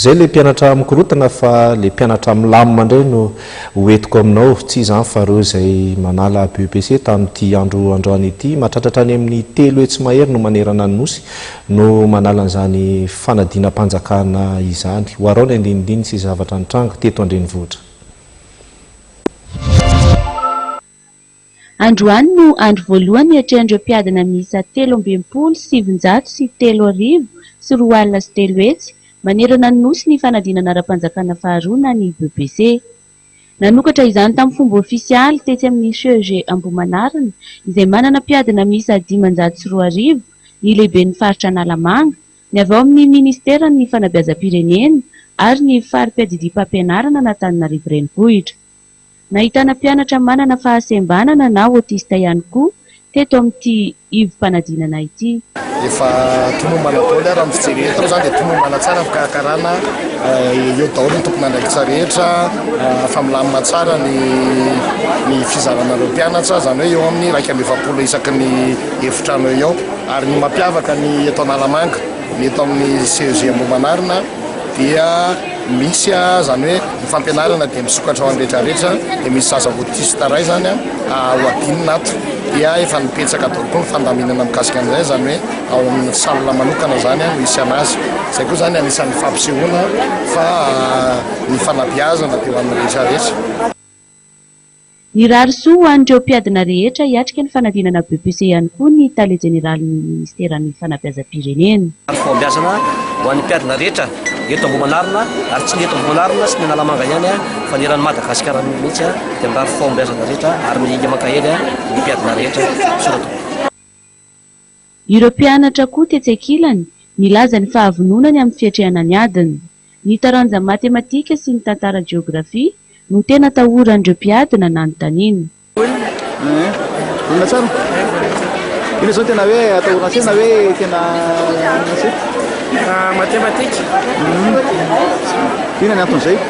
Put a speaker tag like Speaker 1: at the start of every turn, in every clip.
Speaker 1: Zay le mpianatra mikorotana fa le mpianatra milamina ndray no ho entiko aminao, tsy izany fa reo zay manala BEPC tamin'ity andro androany ity, matratratra any amin'ny telo hetsy mahery no manerana ny Nosy no manala an'izany fanadinam-panjakana izany. Hoarao ny andinindininy sy zavatra nitranga teto an-drenivohitra.
Speaker 2: Androany no andro voalohany niatrehan'ireo mpiadina miisa telo amby enimpolo sy sivinjato sy telo arivo sy roa alina sy telo hetsy manerana ny Nosy ny fanadinana ara-panjakana faharoa na ny BEPC. Nanokatra izany tamin'ny fomba ofisialy tetsy amin'ny CEG Ambohimanarina izay manana mpiadina miisa dimanjato sy roa arivo ny lehiben'ny faritra Analamanga, ny avy ao amin'ny minisiteran'ny fanabeazam-pirenena ary ny fari-piadidiam-pampianarana an'Antananarivo Renivohitra. Nahitana mpianatra manana fahasembanana na autiste ihany koa teto amin'ity ivom-panadinana ity. Efa
Speaker 3: tomombana daholo ary amin'ny fijery eto izany dia tomombana tsara ny fikarakarana, eo daholo ny tompon'andraikitra rehetra, efa milamina tsara ny ny fizarana ireo mpianatra, izany hoe eo amin'ny iraika amby efapolo isaky ny efitrano eo ho eo. Ary ny mampiavaka ny eto Analamanga, ny eto amin'ny CEG Ambohimanarina dia. Misy a, zany hoe ny fampianarana dia misokatra ho an'ny rehetra rehetra, dia misy zaza autiste ray zany a, ho adinina ato, dia efa nibetsaka daholo koa ny fandaminana mikasika an'izay, zany hoe ao amin'ny salle manokana zany a no hisiana azy, izay koa zany anisan'ny fampisehoana fa ny fanabeazana dia ho an'ny rehetra rehetra.
Speaker 2: Nirary soa ho an'ireo mpiadina rehetra hiatrika ny fanadinana BEPC ihany koa ny Tale Jeneralin'ny Ministeran'ny Fanabeazam-pirenena. Andro fahombiazana
Speaker 4: ho an'ny mpiadina rehetra eto Ambohimanarina ary tsy ny eto Ambohimanarina sy ny Analamanga ihany fa ny eran'i Madagasikara mihitsy dia mirary fahombiazana rehetra ary mihinga mankahely ny mpiadina rehetra. Soratra.
Speaker 2: Ireo mpianatra koa tetsy ankilany nilaza ny fahavononany amin'ny fiatrehana ny adiny. Ny taranja matematika sy ny tantara jeografia no tena atahoran'ireo mpiady na nanontaniana.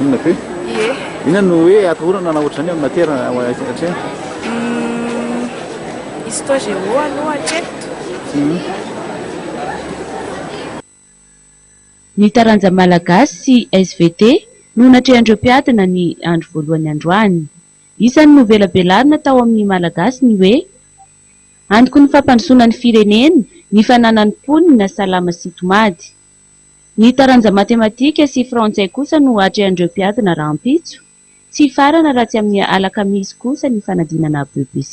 Speaker 5: Inona kay? Ie.
Speaker 6: Inona no hoe
Speaker 5: atahorana na ohatr'izany amin'ny matière hatreto?
Speaker 6: Histo géo aloha hatreto.
Speaker 2: Ny taranja malagasy sy svt no natrehan'ireo mpiadina ny andro voalohany androany. Isan'ny novelabelarina tao amin'ny Malagasy ny hoe, Antoky ny fampandrosoana ny firenena ny fananan'ny mponina salama sy tomady. Ny taranja matematika sy frantsay kosa no atrehan'ireo mpiadina rahampitso. Tsy hifarana raha tsy amin'ny alakamisy kosa ny fanadinana BEPC.